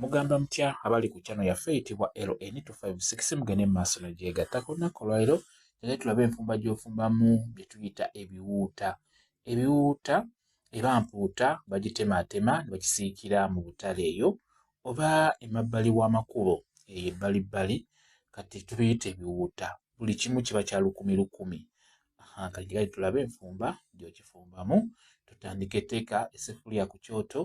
Mugamba mutya abali ku channel yaffe eyitibwa LN256 mugende mu maaso negyegatta ku lunaku olwaliro era tulabe enfumba gy'ofumbamu bye tuyita ebiwuuta ebiwuuta eba mpuuta bagitemaatema ne bakisiikira mu butale eyo oba emabbali w'amakubo eyo ebbalibbali kati tubiyita ebiwuuta buli kimu kiba kya lukumi lukumi kagirai tulabe enfumba gyokifumbamu tutandika eteeka esefuliya ku kyoto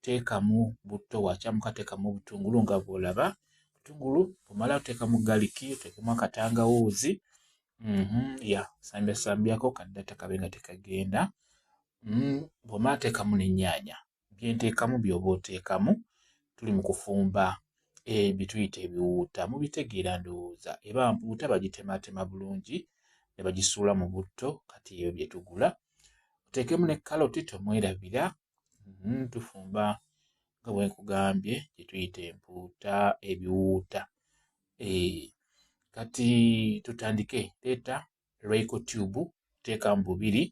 teekamu butto wakyamuka teekamu obutungulu nga bw'olaba obutungulu omala oteeka mu galiki oteekemu akatangawuuzi mhm, ya sambiasambiako kaddata kabe nga tekagenda mm, bw'omala teekamu n'ennyaanya byenteekamu by'oba oteekamu tuli mu kufumba eh, byetuyita ebiwuuta mubitegeera ndowooza eba mpuuta bagitematema bulungi ne bagisuula mu butto kati ebyo bye tugula oteekemu ne kaloti tomwerabira mm, tufumba nga bwe nkugambye gye tuyita empuuta ebiwuuta e, kati tutandike leeta lwaiko tube teeka mu bubiri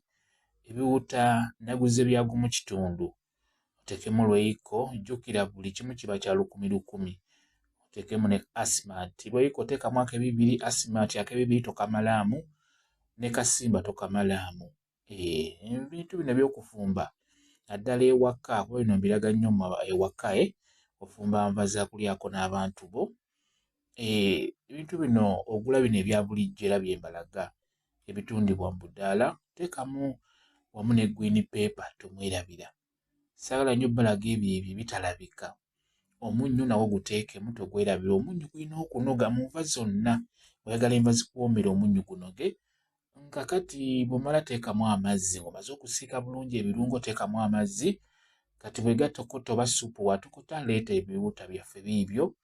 ebiwuuta naguze byagu mu kitundu otekemu lwaiko jjukira buli kimu kiba kya lukumi lukumi otekemu ne asmat lwaiko teekamu akebibiri asmat akebibiri tokamalaamu ne kasimba tokamalaamu eh, ebintu bino byokufumba naddala ewaka kuba bino mbiraga nnyo ewaka e ofumba nva zakulyako n'abantu bo eh, ebintu bino ogula bino ebya bulijjo era byembalaga ebitundibwa mu budaala teekamu wamu ne gwini peepa tomwerabira sagala nyo balaga ebyo ebyo bitalabika omunnyo nawo guteekemu togwerabira omunnyo gulina okunoga mu nva zonna oyagala enva zikuwoomera omunnyo gunoge nga kati bwomala teekamu amazzi omaze okusiika bulungi ebirungo teekamu amazzi kati bwegatokota oba supu watokota leeta ebiwuta byaffe biibyo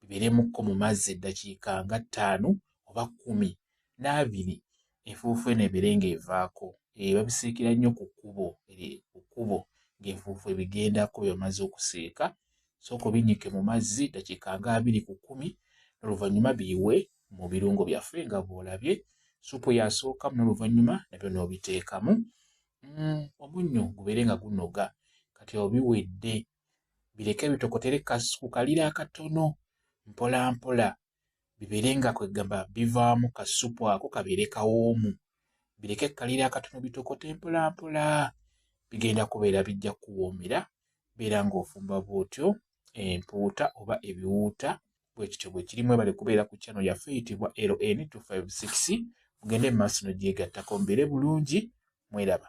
bibeeremukko mu mazzi eddakiika nga ttaano oba kkumi n'abiri enfuufu eno ebeere ng'evaako eh, babisiikira nnyo ku kkubo eh, ku kkubo ng'enfuufu ebigendako bye bamaze okusiika sooka obinyike mu mazzi ddakiika nga abiri ku kkumi n'oluvannyuma biyiwe mu birungo byaffe nga bw'olabye supu yasookamu n'oluvannyuma nabyo n'obiteekamu mm, omunnyo gubeere nga gunoga kati obiwedde bireke bitokotere ku kaliro akatono mpola mpola bibeere nga kwegamba bivaamu kasupu ako kabeere kawoomu bireke kaliro akatono bitokote mpola mpola bigenda kubeera bijja kuwoomera beera ng'ofumba bwotyo empuuta oba ebiwuuta bwekityo bwekirimu ebale kubeera ku kyano yaffe eyitibwa ln 256 mugende mu maaso no gyegattako mbeere bulungi mweraba